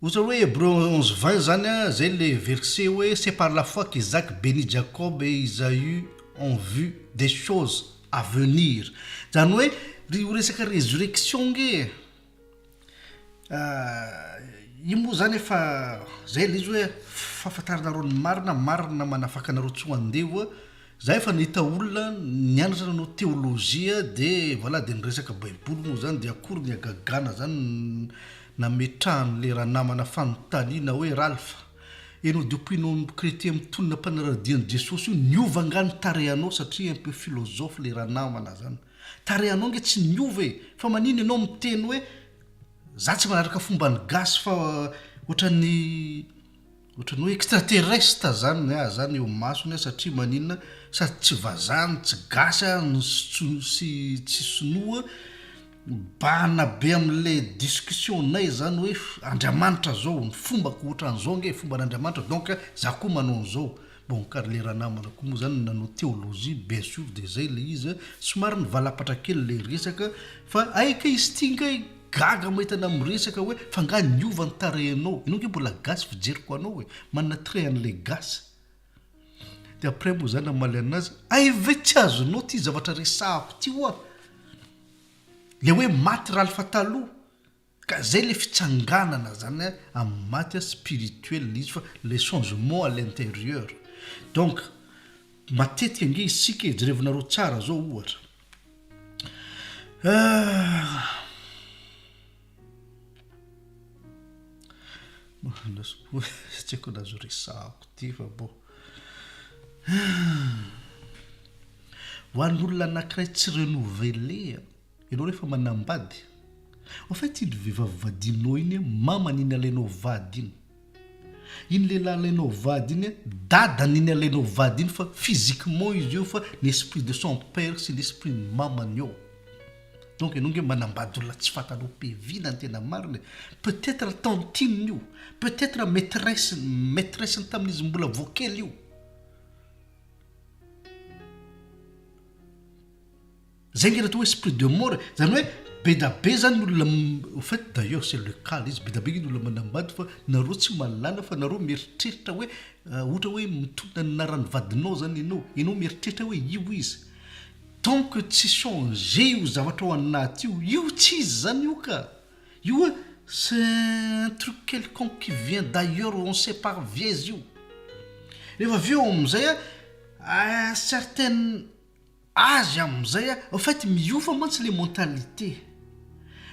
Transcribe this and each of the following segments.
Ohatra hoe Hebreo onze vingt zany a, zay le verset hoe c'est par la foi qu'Isaac benit Jacob et Isaü en vue des choses à venir, zany hoe ry io resaka resurrection nge e, io moa zany efa zay le izy hoe fahafantaranareo ny marina, marina manafaka anareo tsy ho andevo Za efa nahita olona nianatra nanao teolojia de voilà de niresaka baiboly moa zany de akory ny hagagana zany nametrahan'le ranamana fanontaniana hoe Ralph enao de ompianao am chretien mitonona mpanaradia an'i Jesosy io niova angaha ny tarehanao satria un peu philosophe le ranamana zany tarehanao nge tsy niova e fa manina enao miteny hoe za tsy manaraka fomban'ny gasy fa ohatran'ny Ohatran'ny hoe extraterrestre zany ny ahy zany eo masony aho satria maninona sady tsy vazaha no tsy gasy aho no sy tsy sinoa mibahana be amle discussion nay zany hoe andriamanitra zao ny fombako ohatran'izao nge fomban'andriamanitra donc za koa manao an'izao Bon ka ry le ranamana ko moa zany no nanao theologie bien sur de zay le izy a, somary nivalapatra kely le resaka fa hay kay izy ty ngay gaga mahita anao miresaka hoe fa nga niova ny tarehinao, enao nge mbola gasy fijeriko anao e, manana trait anle gasy de après moa za namaly anazy hay ve tsy azonao ty zavatra resahako ty oa, le hoe maty ralph taloha. Ka zay le fitsanganana zany a amin'ny maty a spirituel le izy fa le changement à l'intérieur donc matetika ange isika e jerevinareo tsara zao ohatra tsy aiko na azo resahako ty fa bon ho an'olona anakiray tsy renouveler a. Ianao rehefa manambady, au fait iny vehivavy vadinao iny an, mamany iny alainao vady iny. Iny lehilahy alainao vady iny an, dadany iny alainao vady iny fa physiquement izy eo fa ny esprit de son père sy ny esprit ny mamany ao. Donc ianao nge manambady olona tsy fantanao pe vina ny tena marina e. Peut etre tantine io, peut etre maitresse ny, maitresse ny tamin'izy mbola vao kely io. Zay nge atao hoe esprit de mort e! Zany hoe bedabe zany ny olona au fait d'ailleurs c'est le cas le izy bedabe nge ny olona manambady fa nareo tsy mahalala fa nareo mieritreritra hoe ohatra hoe mitondra ny anaran'ny vadinao zany enao, enao mieritreritra hoe io izy tant que tsy changer io zavatra ao anaty io, io tsy izy zany io ka! io hoe c'est un truc quelconque qui vient d'ailleurs on ne sait pas avy aiza io! rehefa avy eo amizay an certaines. azy amin'izay en fait miova mantsy le mentalité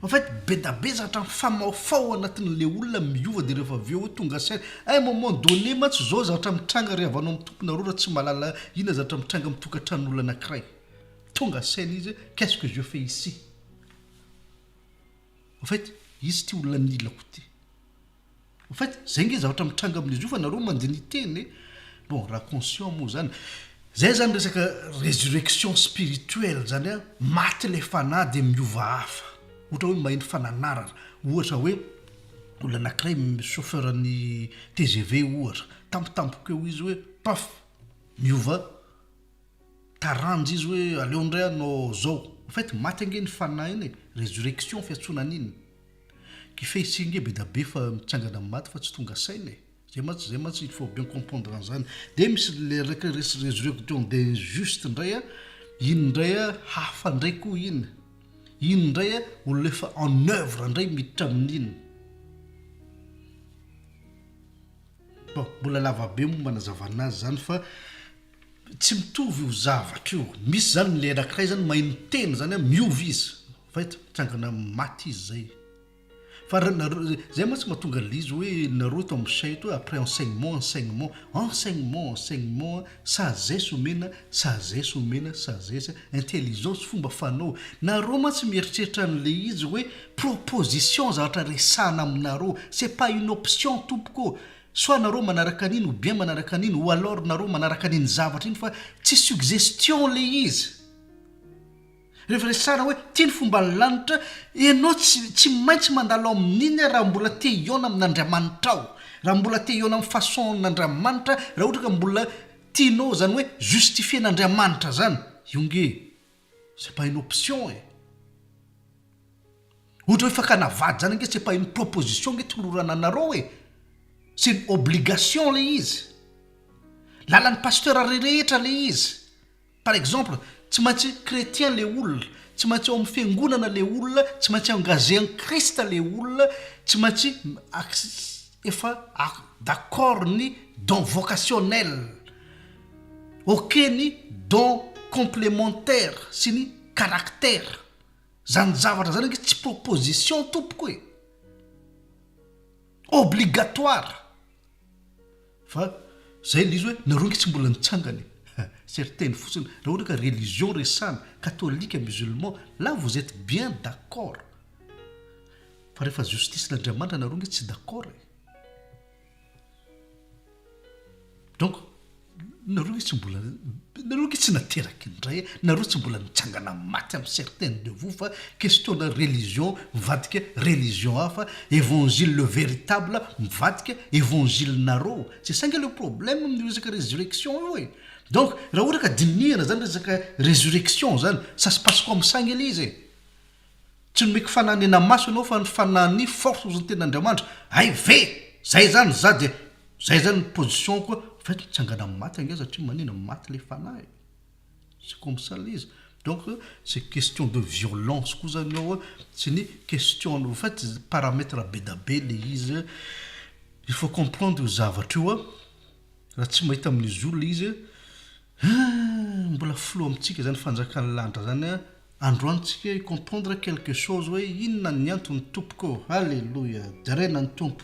en fait bedabeza hatrany famaofao ao anatin'le olona miova de rehefa avy eo tonga saina à un moment donné mantsy zao zatra mitranga ry havano amin'ny tomponareo raha tsy mahalala inona zatra mitranga amin'ny tokantranon'olona anakiray tonga saina izy hoe qu'est ce que je fais ici en fait izy ity olona anilako ity En fait, zay nge zavatra mitranga amin'izy io fa nareo mandeha ny hiteny e! Bon, raha conscient moa zany. Zay zany resaka resurrection spirituelle zany an, maty ilay fanahy dia miova hafa. Ohatra hoe maheno fananarana. Ohatra hoe olona anakiray chauffeur an'ny tgv ohatra, tampotampoka eo izy hoe paf! miova Taranja izy hoe aleo indray anao zao. Au fait maty ange ny fanahiny e, resurrection fiantsoana an'iny. Kifehy tsihy nge bedabe fa mitsangana amin'ny maty fa tsy tonga saina e. Zay mantsy zay mantsy il faut bien comprendre an'izany. Dia misy le reka res- resurrection des justes indray a, iny indray a hafa indray koa iny. Iny indray a olona efa en oeuvre indray miditra amin'iny. Bon, mbola lava be moa manazavana azy zany fa. Tsy mitovy io zavatra io. Misy zany le anakiray zany mahay miteny zany an, miova izy, vita, mitsangana amin'ny maty izy zay. Fa ra- nareo, zay mantsy mahatonga an'le izy hoe nareo eto amin'ny chat eto hoe après enseignement, enseignement, enseignement, enseignement an, sagesse omena, sagesse omena, sagesse an, intelligence, fomba fanao. Nareo mantsy mieritreritra an'le izy hoe proposition zavatra resahana aminareo, c'est pas une option tompoko ô! Soit nareo manaraka an'iny ou bien manaraka an'iny ou alors nareo manaraka an'iny zavatra iny fa tsy suggestion le izy. Rehefa resahana hoe ty ny fomban'ny lanitra, ianao tsy tsy maintsy mandalo amin'iny aho raha mbola te hihaona amin'Andriamanitrao, raha mbola te hihaona amin'ny façon-n'Andriamanitra, raha ohatra ka mbola tianao izany hoe justifier-n'Andriamanitra izany, io nge. C'est pas une option e! Ohatra hoe fakana vady zany ange c'est pas une proposition ange tolorana anareo e! C'est une obligation ilay izy. Lalan'ny pasteur rehetra ilay izy. Par exemple, tsy maintsy chrétien ilay olona, tsy maintsy ao amin'ny fiangonana ilay olona, tsy maintsy engagé en Christ ilay olona, tsy maintsy efa d'accord ny don vocationnel. Ok ny don complementaire sy ny caractère zany zavatra zany ange tsy proposition tompoko e! Obligatoire! Fa zay le izy hoe nareo ange tsy mbola nitsangana e! Certaines fotsiny raha ohatra ka religion resahana, katolika, musulman, là vous etes bien d'accord! Fa rehefa justice n'Andriamanitra nareo ange tsy d'accord e! Donc, nareo nge tsy mbola, nareo nge tsy nateraky indray, nareo tsy mbola nitsangana maty am certaines de vous fa question na religion mivadika religion hafa, évangile le véritable mivadika évangile nareo, c'est ça nge le problème amin'io resaka résurrection io e! Donc, raha ohatra ka dinihana zany resaka résurrection zany, ça se passe comme ça nge le izy e! Tsy nomeko fananena maso ianao fa ny fanani force ozy ny tena Andriamanitra ay ve zay zany za dia zay zany ny position ko fa eto mitsangana amin'ny maty ange satria manina maty le fanahy e c'est comme ça le izy donc c'est question de violence ko zany eo a sy ny question au fait paramètre be da be le izy a il faut comprendre io zavatra io a raha tsy mahita amin'izy io le izy a mbola flou amintsika zany fanjakan'ny lanitra zany a. Androantsika hi comprendre quelque chose hoe inona ny antony tompoko ô! Haleloia! Deraina ny Tompo.